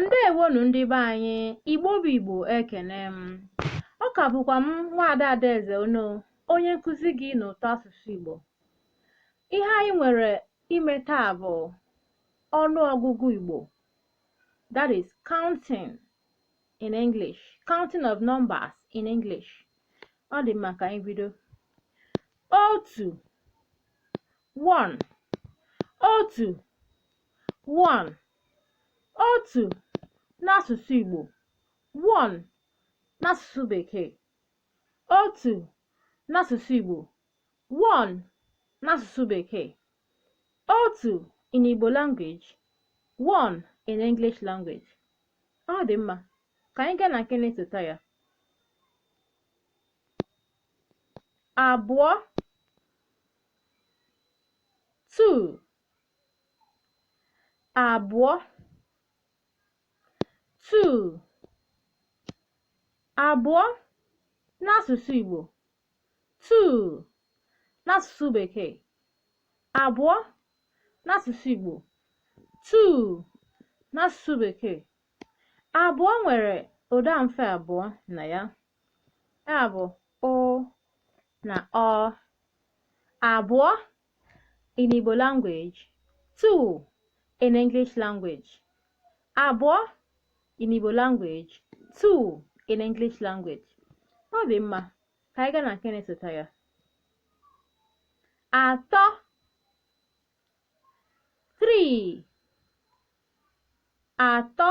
ndewonu ndị be anyị igbo bụ igbo ekene m ọ ka bụkwa m nwaada adaeze ono onye nkuzi gị n'ụtọ asụsụ igbo ihe anyị nwere ime taa bụ ọnụ ọgụgụ igbo that is counting in english counting of numbers in english ọ dị mma ka anyị bido otu one otu One, otu n'asụsụ Igbo. One n'asụsụ Bekee. Otu n'asụsụ Igbo. One n'asụsụ Bekee. Otu in Igbo language. One in English language. Ọ dị mma. Ka anyị gaa na nke na-esota ya. Abụọ. Two. abụọ two abụọ n'asụsụ Igbo two n'asụsụ Bekee abụọ n'asụsụ Igbo two n'asụsụ Bekee abụọ nwere ụda mfe abụọ na ya ya bụ ụ na ọ abụọ in Igbo language, two in English language, abụọ in Igbo language, two in English language. Ọ dị mma, ka anyị gaa na nke na-esota ya. Atọ, three, atọ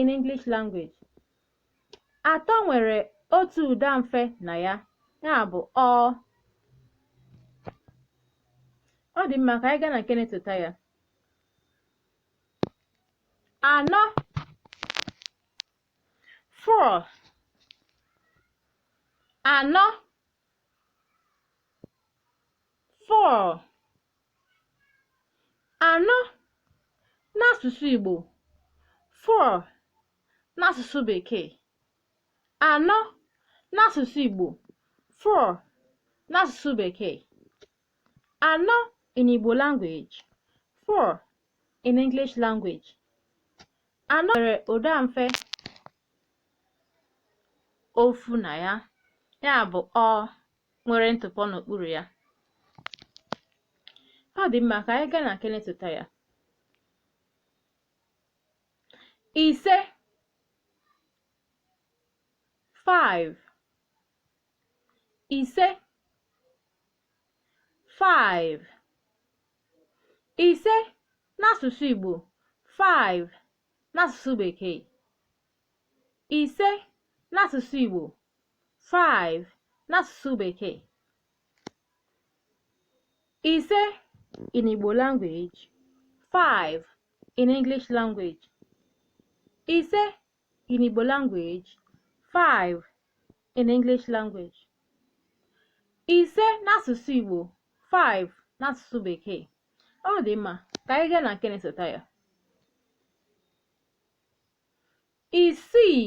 in English language. Atọ nwere otu ụda mfe na ya, ya bụ ọ. Ọ dị mma ka anyị gaa na nke na-esota ya. Anọ four anọ four anọ n'asụsụ Igbo four n'asụsụ Bekee anọ n'asụsụ Igbo four n'asụsụ Bekee anọ in Igbo language four in English language anọ nwere ụda mfe ofu na ya ya bụ ọ nwere ntụpọ n'okpuru ya ọ dị mma ka anyị gaa na nke na-esota ya ise 5 ise 5 ise n'asụsụ Igbo 5 n'asụsụ Bekee ise n'asụsụ Igbo 5 n'asụsụ bekee ise in Igbo language 5 in English language ise in Igbo language 5 in English language ise n'asụsụ Igbo 5 n'asụsụ bekee ọ dị mma ka anyị gaa na nke na-esota ya isii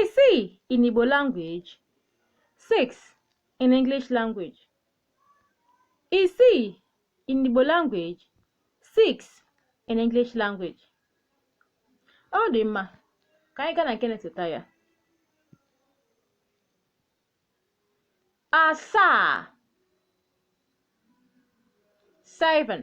Isii in Igbo language. 6 in English language. Isii in Igbo language. 6 in English language. Ọ dị mma ka anyị gaa na nke na-esota ya. Asaa. Seven.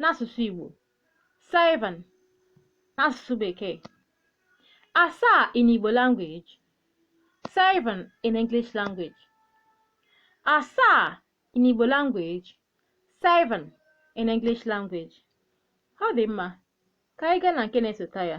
n'asụsụ Igbo seven n'asụsụ Bekee asaa in Igbo language seven in English language asaa in Igbo language seven in English language ọ dị mma ka anyị gaa na nke na-esota ya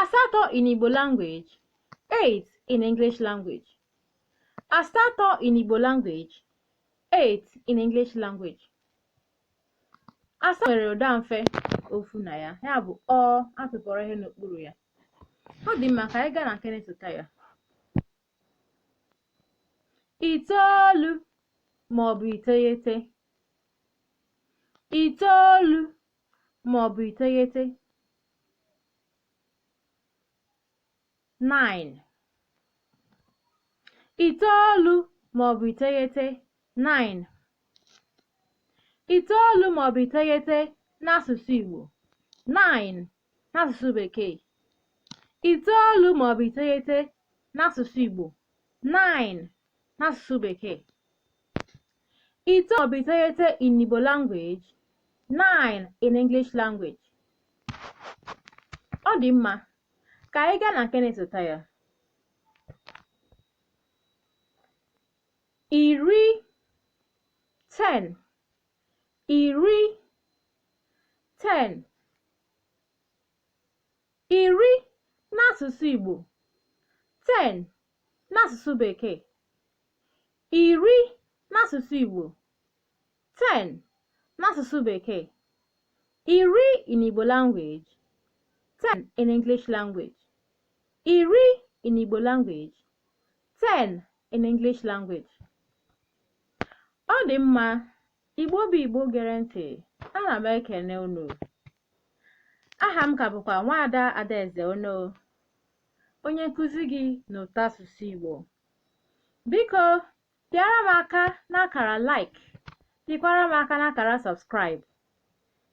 asatọ in Igbo language, eight in English language. asatọ in Igbo language, eight in English language. asatọ nwere ụda mfe ofu na ya ya bụ ọ a tụpọrọ ihe n'okpuru ya ọ dị mma ka anyị gaa na nke na-esota ya itoolu maọbụ iteghete itoolu ma ọ bụ iteghete 9 itoolu ma ọ bụ iteghete 9 itoolu ma ọ bụ iteghete n'asụsụ Igbo 9 n'asụsụ Bekee itoolu ma ọ bụ iteghete n'asụsụ Igbo 9 n'asụsụ Bekee Itoolu maọbụ iteghete in Igbo language, nine in English language. Ọ dị mma, ka anyị gaa na nke na-esota ya. Iri, ten, iri, ten. Iri n'asụsụ Igbo, ten n'asụsụ Bekee, iri n'asụsụ Igbo, 10 n'asụsụ Bekee, iri in Igbo language, 10 in English language, iri in Igbo language, 10 in English language. Ọ dị mma, Igbo bụ Igbo gere ntị, ana m ekene unu. Aha m ka bụkwa Nwaada Adaeze Ono. onye nkụzi gị n'ụtọasụsụ Igbo. Biko, pịara m aka n'akara like, pịkwara m aka n'akara subscribe.